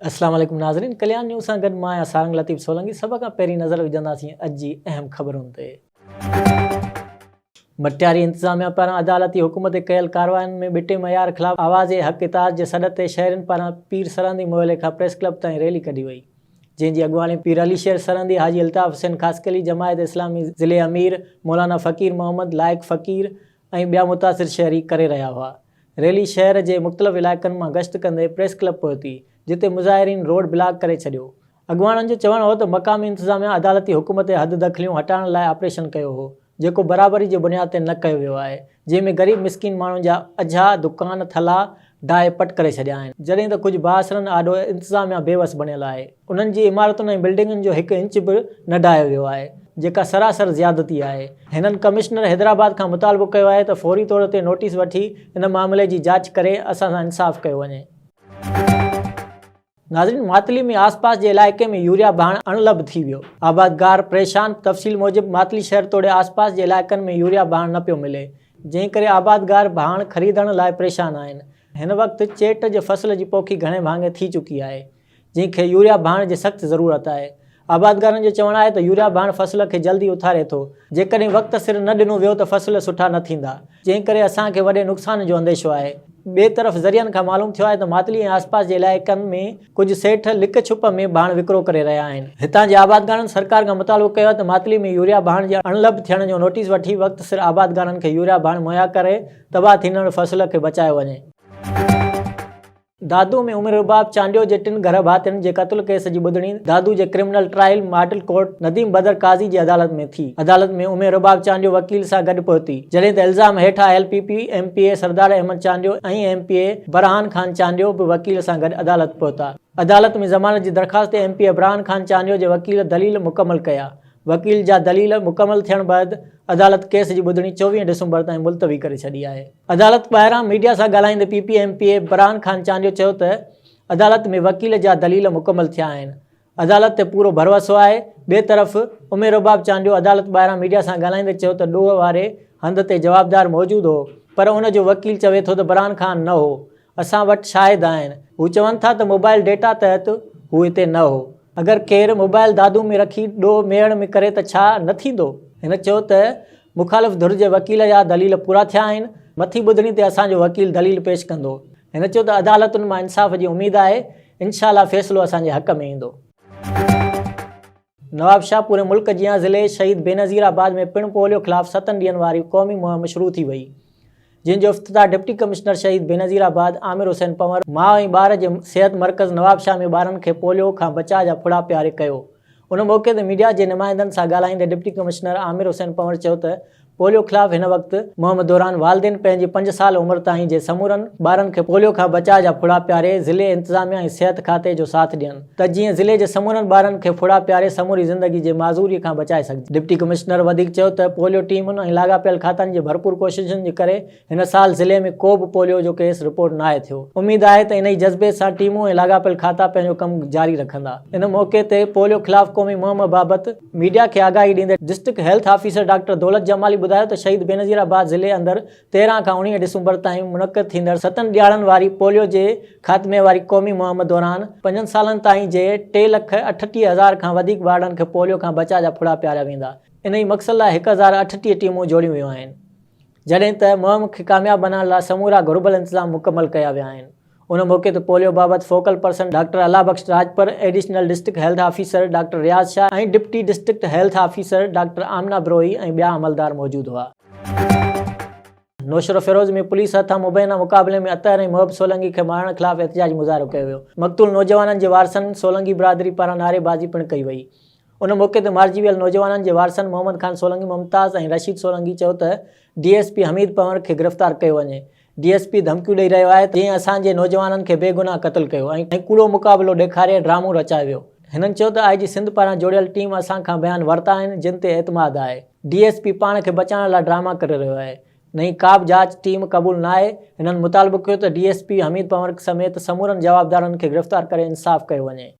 السلام عليڪم ناظرين ڪليان نيوز سان گڏ مان آهيان سارنگ لطيف سولنگي سڀ کان پهرين نظر وجهنداسين اڄ جي اهم خبرن تي ڀٽياري انتظاميا پاران عدالتي حڪم تي ڪيل ڪارواين ۾ ٻٽي معيار خلاف آواز حق اتحاد جي سڏ تي شهرين پاران پير سرهندي محلي کان پريس ڪلب تائين ريلي ڪڍي وئي جنهن جي اڳواڻي پير علي شير سرهندي، حاجي الطاف حسين خاصخيلي، جماعت اسلامي ضلعي امير، مولانا فقير محمد، لائق فقير ۽ ٻيا متاثر شهري ڪري رهيا هئا. ريلي شهر جي مختلف علائقن مان گشت ڪندي پريس ڪلب پهتي، جتي مظاهرين روڊ بلاڪ ڪري ڇڏيو. اڳواڻن جو چوڻ هو ته مقامي انتظاميا عدالتي حڪم تي حد دخليون هٽائڻ لاء آپريشن ڪيو هو، جيڪو برابري جي بنياد تي نه ڪيو ويو آهي، جنهن ۾ غريب مسڪين ماڻهن جا اجها دڪان ٿلها ڊاهي پٽ ڪري ڇڏيا آهن، جڏهن ته ڪجهه بااثرن آڏو انتظاميا بي وس بڻيل آهي، انهن جي عمارتن ۽ بلڊنگن جو هڪ انچ به نه ڊاهيو ويو آهي، جيڪا سراسر زيادتي آهي. هنن ڪمشنر حيدرآباد کان مطالبو ڪيو آهي ته فوري طور تي نوٽيس وٺي ان معاملي جي جاچ ڪري اسان سان انصاف ڪيو وڃي. ناظرين ماتلي ۾ آس پاس جي علائقي ۾ يوريا ڀاڻ اڻ لڀ ٿي ويو، آبادگار پريشان، تفصيل موجب ماتلي شهر توڙي آس پاس جي علائقن ۾ يوريا ڀاڻ نه پيو ملي، جنهن ڪري آبادگار ڀاڻ خريدڻ لاء پريشان آهن، هن وقت چيٽ جي فصل جي پوکي گهڻي ڀاڱي ٿي چڪي آهي، جنهن کي يوريا ڀاڻ جي سخت ضرورت آهي، آبادگارن جو چوڻ آهي ته يوريا ڀاڻ فصل کي جلدي اٿاري ٿو، جيڪڏهن وقت سر نه ڏنو ويو ته فصل سٺا نه ٿيندا، جنهن ڪري اسان کي وڏي نقصان جو انديشو آهي. ٻئي طرف ذريعن کان معلوم ٿيو آهي ته ماتلي ۽ آسپاس جي علائقن ۾ ڪجهه سيٺ لڪ ڇپ ۾ ڀاڻ وڪرو ڪري رهيا آهن. هتان جي آبادگارن سرڪار کان مطالبو ڪيو آهي ته ماتلي ۾ يوريا ڀاڻ جي اڻلڀ ٿيڻ جو نوٽيس وٺي وقت سر آبادگارن کي يوريا ڀاڻ مهيا ڪري تباهه ٿيندڙ فصل کي بچايو وڃي. دادو ۾ عمر رباب چانڊيو جي ٽن گهر ڀاتين جي قتل ڪيس جي ٻڌڻي دادو جي criminal trial model court Nadeem Badar Qazi جي عدالت ۾ ٿي. عدالت ۾ عمر رباب چانڊيو وڪيل سان گڏ پهتي، جڏهن ته الزام هيٺ آيل P P M P A Sardar Ahmed Chandio ۽ M P A Burhan Khan Chandio به وڪيل سان گڏ عدالت پهتا. عدالت ۾ ضمانت جي درخواست تي M P A Burhan Khan Chandio جي وڪيل دليل مڪمل ڪيا. وڪيل جا دليل مڪمل ٿيڻ بعد عدالت ڪيس جي ٻڌڻي چوويهه ڊسمبر تائين ملتوي ڪري ڇڏي آهي. عدالت ٻاهران ميڊيا سان ڳالهائيندي P P M P A Burhan Khan Chandio چيو ته عدالت ۾ وڪيل جا دليل مڪمل ٿيا آهن، عدالت تي پورو ڀروسو آهي، ٻئي طرف امير رباب چانڊيو عدالت ٻاهران ميڊيا سان ڳالهائيندي چيو ته ڏوهه واري هنڌ تي جوابدار موجود هو پر ان جو وڪيل چوي ٿو ته برهان خان نه هو اسان وٽ شاهد آهن. هو چون ٿا ته موبائل ڊيٽا تحت هو هتي نه هو. اگر ڪير موبائل دادو ۾ رکي ڏوهه ميڙ ۾ ڪري ته ڇا نه ٿيندو؟ هن چيو ته مخالف ڌر جي وڪيل جا دليل پورا ٿيا آهن، مٿين ٻڌڻي تي اسان جو وڪيل دليل پيش ڪندو. هن چيو ته عدالتن مان انصاف جي اميد آهي، انشاء الله فيصلو اسان جي حق ۾ ايندو. نوابشاهه پوري ملڪ جيان ضلعي شهيد بينظير آباد ۾ پڻ پوليو خلاف ستن ڏينهن واري قومي مهم شروع ٿي وئي جنهن جو افتتاح ڊپٽي ڪمشنر شهيد بينظير آباد عامر حسين پنور ماء ۽ ٻار جي صحت مرڪز نوابشاهه ۾ ٻارن کي پوليو کان بچاء جا ڦڙا پياري ڪيو ان موقعي تي ميڊيا جي نمائندن سان ڳالهائيندي ڊپٽي ڪمشنر عامر حسين پنور چيو ته پوليو خلاف هن وقت مهم دوران والدين پنهنجي پنج سال عمر تائين جي سمورن ٻارن کي پوليو کان بچاء جا ڦڙا پياري ضلعي انتظاميه ۽ صحت کاتي جو ساٿ ڏين ته جيئن ضلعي جي سمورن ٻارن کي ڦڙا پياري سموري زندگي جي معذوري کان بچائي سگهجي. ڊپٽي ڪمشنر وڌيڪ چيو ته پوليو ٽيمن ۽ لاڳاپيل کاتن جي ڀرپور ڪوششن جي ڪري هن سال ضلعي ۾ ڪو به پوليو جو ڪيس رپورٽ ناهي ٿيو، اميد آهي ته انهي جذبي سان ٽيمون ۽ لاڳاپيل کاتا پنهنجو ڪم جاري رکندا. ان موقعي تي پوليو خلاف قومي مهم بابت ميڊيا کي آگاهي ڏيندي district health officer doctor Daulat Jamali ٻڌايو ته شهيد بينظير آباد ضلعي اندر تيرهن کان اڻيهه ڊسمبر تائين منعقد ٿيندڙ ستن ڏيهاڙن واري پوليو جي خاتمي واري قومي مهم دوران پنجن سالن تائين جي ٽي لک اٺٽيهه هزار کان وڌيڪ ٻارڙن کي پوليو کان بچاء جا ڦڙا پياريا ويندا، انهي مقصد لاء هڪ هزار اٺٽيهه ٽيمون جوڙيون ويون آهن. جڏهن ته مهم کي ڪامياب بنائڻ لاء سمورا گهربل انتظام مڪمل ڪيا ويا آهن. ان موقعي تي پوليو بابت focal person doctor Allah Bakhsh Rajpar, additional district health officer doctor Riaz Shah ۽ deputy district health officer doctor Amna Brohi ۽ ٻيا عملدار موجود هئا. نوشهروفيروز ۾ پوليس هٿان مبينا مقابلي ۾ اطهر ۽ محب سولنگي کي مارڻ خلاف احتجاجي مظاهرو ڪيو ويو. مقتول نوجوانن جي وارثن سولنگي برادري پاران نعريبازي پڻ ڪئي وئي. ان موقعي تي مارجي ويل نوجوانن جي وارثن محمد خان سولنگي ممتاز ۽ رشيد سولنگي چيو ته D S P Hameed Panwar کي گرفتار ڪيو وڃي، ڊي ايس پي ڌمڪيون ڏئي رهيو آهي ته جنهن اسان جي نوجوانن کي بي گناهه قتل ڪيو ۽ ڪوڙو مقابلو ڏيکاري ڊرامو رچايو ويو. هنن چيو ته آء جي سنڌ پاران جوڙيل ٽيم اسان کان بيان ورتا آهن جن تي اعتماد آهي، ڊي ايس پي پاڻ کي بچائڻ لاء ڊراما ڪري رهيو آهي، نئين ڪابه جاچ ٽيم قبول ناهي، هنن مطالبو ڪيو ته D S P Hameed Panwar سميت سمورن جوابدارن کي گرفتار ڪري انصاف ڪيو وڃي.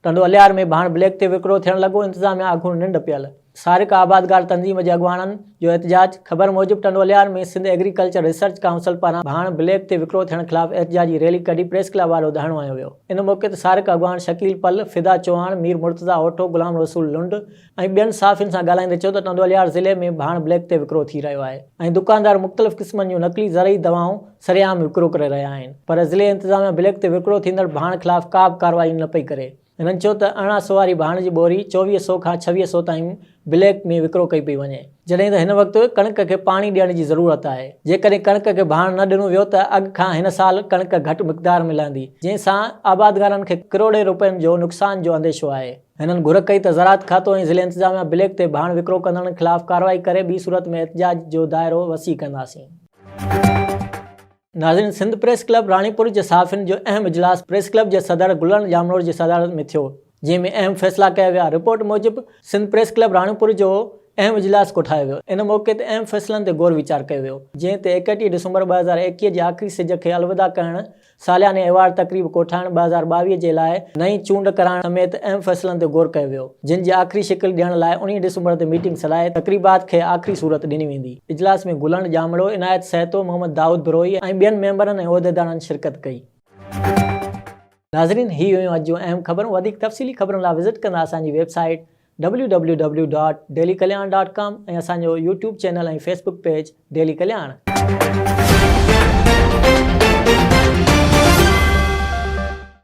ٽنڊو الهيار ۾ به هاڻ بليڪ تي وڪرو ٿيڻ لڳو، انتظاميا اڳوڻ ننڊ پيل. سارڪ آبادگار تنظيم جي اڳواڻن جو احتجاج، خبر موجب Tando Allahyar ۾ Sindh agriculture research council پاران به هاڻ بليڪ تي وڪرو ٿيڻ خلاف احتجاجي ريلي ڪڍي پريس ڪلب وارو دهڻو هنيو ويو، ان موقعي تي سارڪ اڳواڻ شڪيل پل، فدا چوهاڻ، مير مرتضيٰ اوٺو، غلام رسول لنڊ، ۽ ٻين صحافين سان ڳالهائيندي چيو ته ٽنڊوالهيار ضلعي ۾ به هاڻ بليڪ تي وڪرو ٿي رهيو آهي ۽ دڪاندار مختلف قسمن جون نقلي زرعي دوائون سري عام وڪرو ڪري رهيا آهن پر ضلعي انتظاميا بليڪ تي وڪرو ٿيندڙ به هاڻ خلاف ڪا به ڪارروائي نه پئي ڪري هنن چيو ته ارڙهن سو واري به هاڻ جي ٻوري چوويهه سو کان ڇويهه سو تائين بليڪ ۾ وڪرو ڪئي پئي وڃي جڏهن ته هن وقت ڪڻڪ کي پاڻي ڏيڻ جي ضرورت آهي جيڪڏهن ڪڻڪ کي به هاڻ نه ڏنو ويو ته اڳ کان هن سال ڪڻڪ گهٽ مقدار ۾ لهندي جنهن سان آبادگارن کي ڪروڙين روپين جو نقصان جو انديشو آهي. هنن گهر ڪئي ته زراعت کاتو ۽ ضلعي انتظاميا بليڪ تي ڀاڻ وڪرو ڪندڙن خلاف ڪارروائي ڪري ٻي صورت ۾ احتجاج جو دائرو وسيع ڪنداسين. ناظرين سنڌ پريس ڪلب راڻيپور جي صحافين جو اهم اجلاس پريس ڪلب جي صدر گلڻ ڄامڙو جي صدارت ۾ ٿيو جنهن ۾ اهم فيصلا ڪيا ويا رپورٽ موجب سنڌ پريس ڪلب راڻيپور جو اهم اجلاس ڪوٺايو ويو ان موقعي تي اهم فيصلن تي غور ويچار ڪيو ويو جنهن تي ايڪٽيهه ڊسمبر ٻه هزار ايڪيهه جي آخري سج کي الوداع ڪرڻ سالياني ايوارڊ تقريب ڪوٺائڻ ٻه هزار ٻاويهه جي لاء نئين چونڊ ڪرائڻ سميت اهم فيصلن تي غور ڪيو ويو، جن جي آخري شڪل ڏيڻ لاء اڻيهن ڊسمبر تي ميٽنگ سڏائي تقريبات کي آخري صورت ڏني ويندي. اجلاس ۾ گلڻ ڄامڙو، عنايت سهتو، محمد دائود بروهي ۽ ٻين ميمبرن ۽ عهديدارن شرڪت ڪئي. ناظرين هي هيون اڄ جون اهم خبرون وڌيڪ تفصيلي خبرن لاء وزٽ ڪندا اسان جي website. W W W dot Daily Kalyan dot com ۽ اسان جو YouTube channel ۽ Facebook page Daily ڪلياڻ.